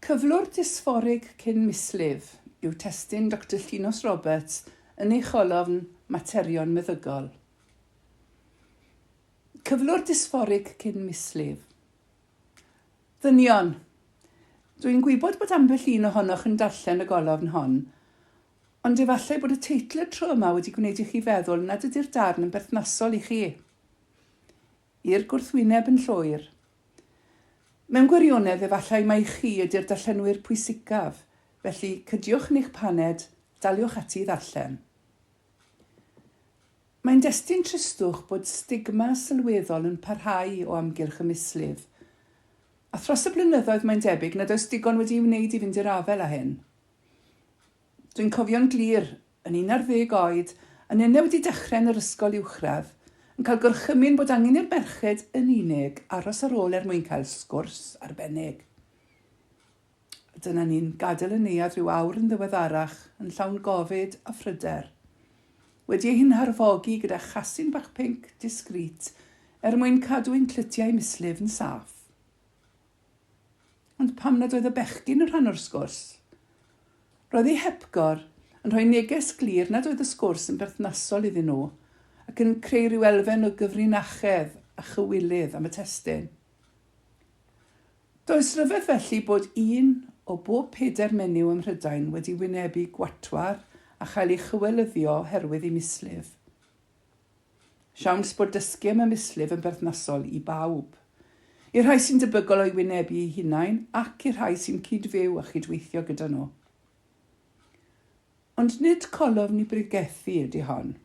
Cyflwr dysfforig cyn mislif yw testun Doctor Llinos Roberts yn ei cholofn Materion Meddygol. Cyflwr dysfforig cyn mislif. Ddynion, Dw i'n gwybod bod ambell un ohonoch yn darllen y golofn hon, ond efallai bod y teitl y tro yma wedi gwneud i chi feddwl nad ydy'r darn yn berthnasol i chi. i'r gwrthwyneb yn llwyr. Mewn gwirionedd, efallai mai chi ydy'r darllenwyr pwysicaf, felly cydiwch yn eich paned, daliwch ati i ddarllen. Mae'n destun tristwch bod stigma sylweddol yn parhau o amgylch y mislif, a thros y blynyddoedd mae'n debyg nad oes digon wedi'i wneud i fynd i'r afael â hyn. Dwi'n cofio'n glir, yn un ar ddeg oed, yn un a wedi dechrau yn yr ysgol uwchradd, yn cael gorchymyn bod angen i'r merched yn unig aros ar ôl er mwyn cael sgwrs arbennig. A dyna ni'n gadael y neuadd rhyw awr yn ddiweddarach, yn llawn gofid a phryder. Wedi ei hunharfogi gyda chasyn bach pinc, discreet, er mwyn cadw ein clytiau mislif yn saff. Ond pam nad oedd y bechgyn yn rhan o'r sgwrs? Roedd ei hepgor yn rhoi neges glir nad oedd y sgwrs yn berthnasol iddyn nhw ac yn creu rhyw elfen o gyfrinachedd a chywilydd am y testun. Does ryfedd felly bod un o bob pedair menyw ym Mhrydain wedi wynebu gwatwar a chael ei chywelyddio oherwydd ei mislif. Siawns bod dysgu am y mislif yn berthnasol i bawb. I'r rhai sy'n debygol o'i wynebu eu hunain ac i'r rhai sy'n cyd-fyw a chyd-weithio gyda nhw. Ond nid colofn i bregethu ydy hon.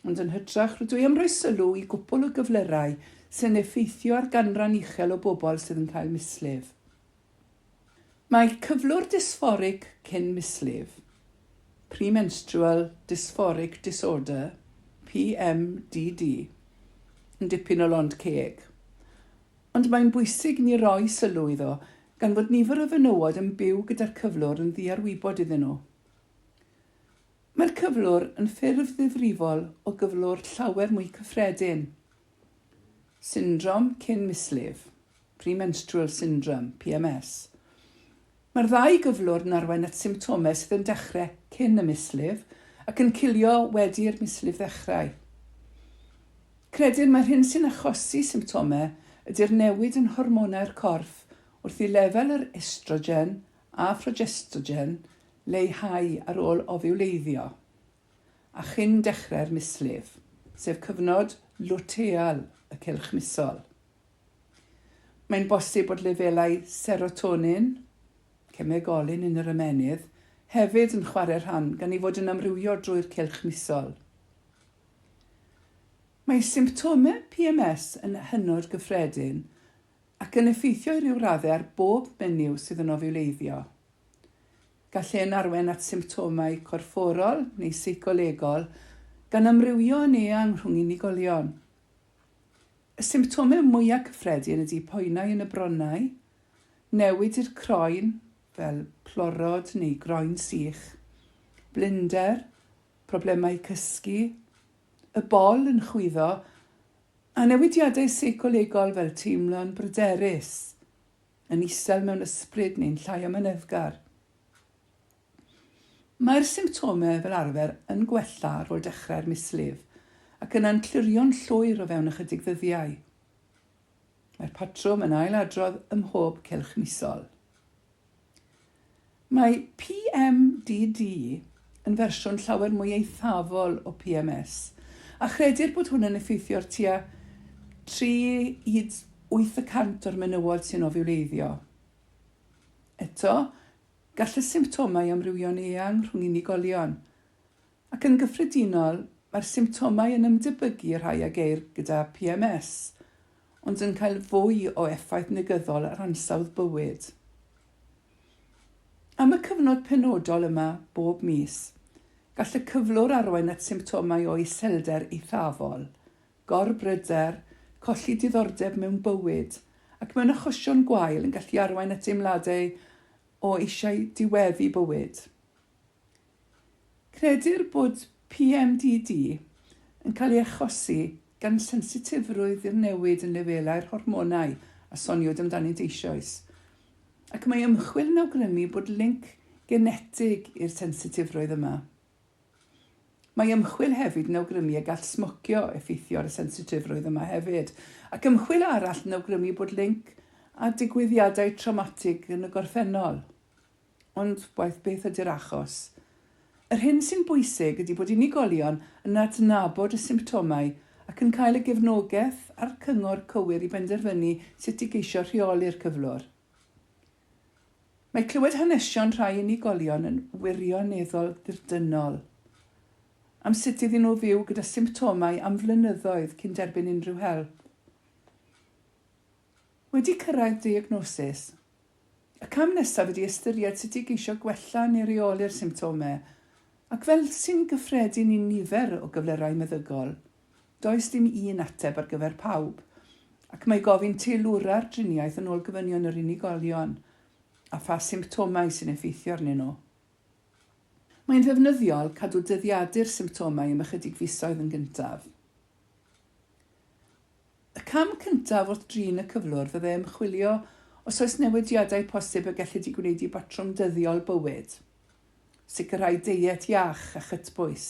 Ond yn hytrach, rydw i am roi sylw i gwpwl o gyflyrau sy'n effeithio ar ganran uchel o bobl sydd yn cael mislif. Mae cyflwr dysfforig cyn mislif, premenstrual dysphoric disorder, PMDD, yn dipyn o lond ceg. Ond mae'n bwysig i ni roi sylw iddo gan fod nifer o fenywod yn byw gyda'r cyflwr yn ddiarwybod iddyn nhw. Mae'r cyflwr yn ffurf ddifrifol o gyflwr llawer mwy cyffredin. Syndrom cyn mislif, premenstrual syndrome, PMS. Mae'r ddau gyflwr yn arwain at symptomau sydd yn dechrau cyn y mislif ac yn cilio wedi i'r mislif ddechrau. Credir mai'r hyn sy'n achosi symptomau ydy'r newid yn hormonau'r corff wrth i lefel yr estrogen a phrogestogen leihau ar ôl ofiwleiddio. a chyn dechrau'r mislif, sef cyfnod lwteal y cylch misol. Mae'n bosib bod lefelau serotonin, cemegolyn yn yr ymennydd, hefyd yn chwarae rhan gan ei fod yn amrywio drwy'r cylch misol. Mae symptomau PMS yn hynod gyffredin ac yn effeithio i ryw raddau ar bob menyw sydd yn ofiwleiddio. Gall hyn arwain at symptomau corfforol neu seicolegol, gan amrywio yn eang rhwng unigolion. Y symptomau mwyaf cyffredin ydy poenau yn y bronnau, newid i'r croen, fel plorod neu groen sych, blinder, problemau cysgu, y bol yn chwyddo, a newidiadau seicolegol fel teimlo'n bryderus. yn isel mewn ysbryd neu'n llai amyneddgar. Mae'r symptomau fel arfer yn gwella ar ôl dechrau'r mislif ac yna'n clirio'n llwyr o fewn ychydig ddyddiau. Mae'r patrwm yn ail-adrodd ym mhob cylch misol. Mae PMDD yn fersiwn llawer mwy eithafol o PMS, a chredir bod hwn yn effeithio ar tua 3-8 y cant o'r menywod sy'n ofiwleiddio. Eto, gall y symptomau amrywio'n eang rhwng unigolion, ac yn gyffredinol, mae'r symptomau yn ymdebygu i'r rhai a geir gyda PMS, ond yn cael fwy o effaith negyddol ar ansawdd bywyd. Am y cyfnod penodol yma bob mis, gall y cyflwr arwain at symptomau o iselder eithafol, gorbryder, colli diddordeb mewn bywyd, ac mewn achosion gwael yn gallu arwain at deimladau o eisiau diweddu bywyd. Credir bod PMDD yn cael ei achosi gan sensitifrwydd i'r newid yn lefelau'r hormonau a soniwyd amdanynt eisoes, ac mae ymchwil yn awgrymu bod linc genetig i'r sensitifrwydd yma. Mae ymchwil hefyd yn awgrymu y gall smocio effeithio ar y sensitifrwydd yma hefyd, ac ymchwil arall yn awgrymu bod linc â digwyddiadau trawmatig yn y gorffennol. Ond waeth beth ydy'r achos, yr hyn sy'n bwysig ydy bod unigolion yn adnabod y symptomau ac yn cael y gefnogaeth a'r cyngor cywir i benderfynu sut i geisio rheoli'r cyflwr. Mae clywed hanesion rhai unigolion yn wirioneddol ddirdynnol am sut iddyn nhw fyw gyda symptomau am flynyddoedd cyn derbyn unrhyw help. Wedi cyrraedd diagnosis, y cam nesaf ydi ystyried sut i geisio gwella neu reoli'r symptomau, ac fel sy'n gyffredin i nifer o gyflyrau meddygol, does dim un ateb ar gyfer pawb, ac mae gofyn teilwra'r driniaeth yn ôl gofynion yr unigolion a pha symptomau sy'n effeithio arnyn nhw. Mae'n ddefnyddiol cadw dyddiadu'r symptomau am ychydig fisoedd yn gyntaf. Y cam cyntaf wrth drin y cyflwr fyddai ymchwilio os oes newidiadau posib y gellid eu gwneud i batrwm dyddiol bywyd. Sicrhau deiet iach a chytbwys,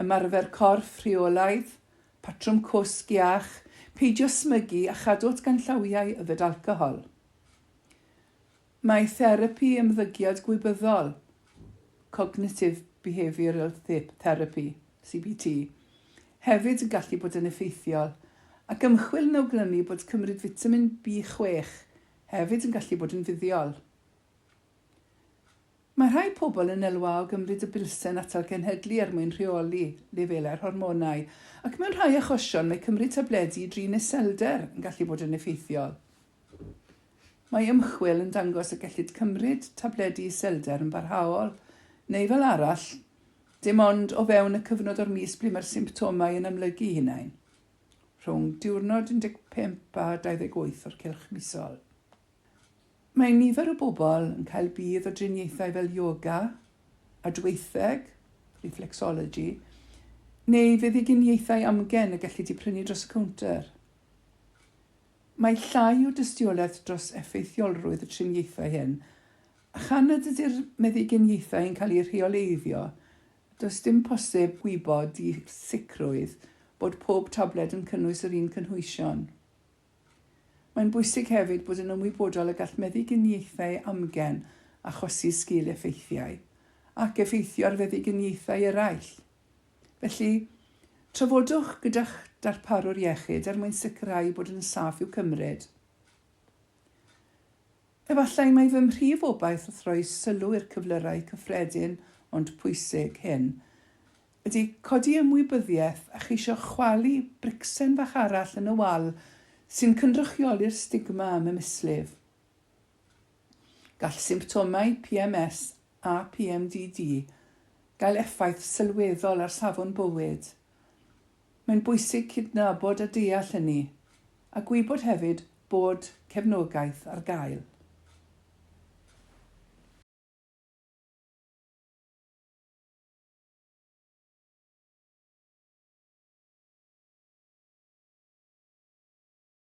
ymarfer corff rheolaidd, patrwm cwsg iach, peidio smygu a chadw at ganllawiau yfed alcohol. Mae therapi ymddygiad gwybyddol, cognitive behavioural therapy, CBT, hefyd yn gallu bod yn effeithiol, ac ymchwil yn awgrymu bod cymryd fitamin B6 hefyd yn gallu bod yn fuddiol. Mae rhai pobl yn elwa o gymryd y bilsen atal cenhedlu er mwyn rheoli lefelau'r hormonau, ac mewn rhai achosion mae cymryd tabledi i drin iselder yn gallu bod yn effeithiol. Mae ymchwil yn dangos y gellid cymryd tabledi iselder yn barhaol, neu fel arall, dim ond o fewn y cyfnod o'r mis ble mae'r symptomau yn amlygu'u hunain, rhwng diwrnod 15 a 28 o'r cylch misol. Mae nifer o bobl yn cael budd o driniaethau fel ioga, adweitheg, reflexology, neu feddyginiaethau amgen y gellid eu prynu dros y cownter. Mae llai o dystiolaeth dros effeithiolrwydd y triniaethau hyn, a chan nad ydy'r meddyginiaethau yn cael eu rheoleiddio, does dim posib gwybod i sicrwydd bod pob tabled yn cynnwys yr un cynhwysion. Mae'n bwysig hefyd bod yn ymwybodol y gall meddyginiaethau amgen achosi sgil-effeithiau, ac effeithio ar feddyginiaethau eraill. Felly, trafodwch gyda'ch darparwr iechyd er mwyn sicrhau bod yn saff i'w cymryd. Efallai mai fy mhrif obaith wrth roi sylw i'r cyflyrau cyffredin ond pwysig hyn ydy codi ymwybyddiaeth a cheisio chwalu bricsen fach arall yn y wal sy'n cynrychioli'r stigma am y mislif. Gall symptomau PMS a PMDD gael effaith sylweddol ar safon bywyd. Mae'n bwysig cydnabod a deall hynny, a gwybod hefyd bod cefnogaeth ar gael.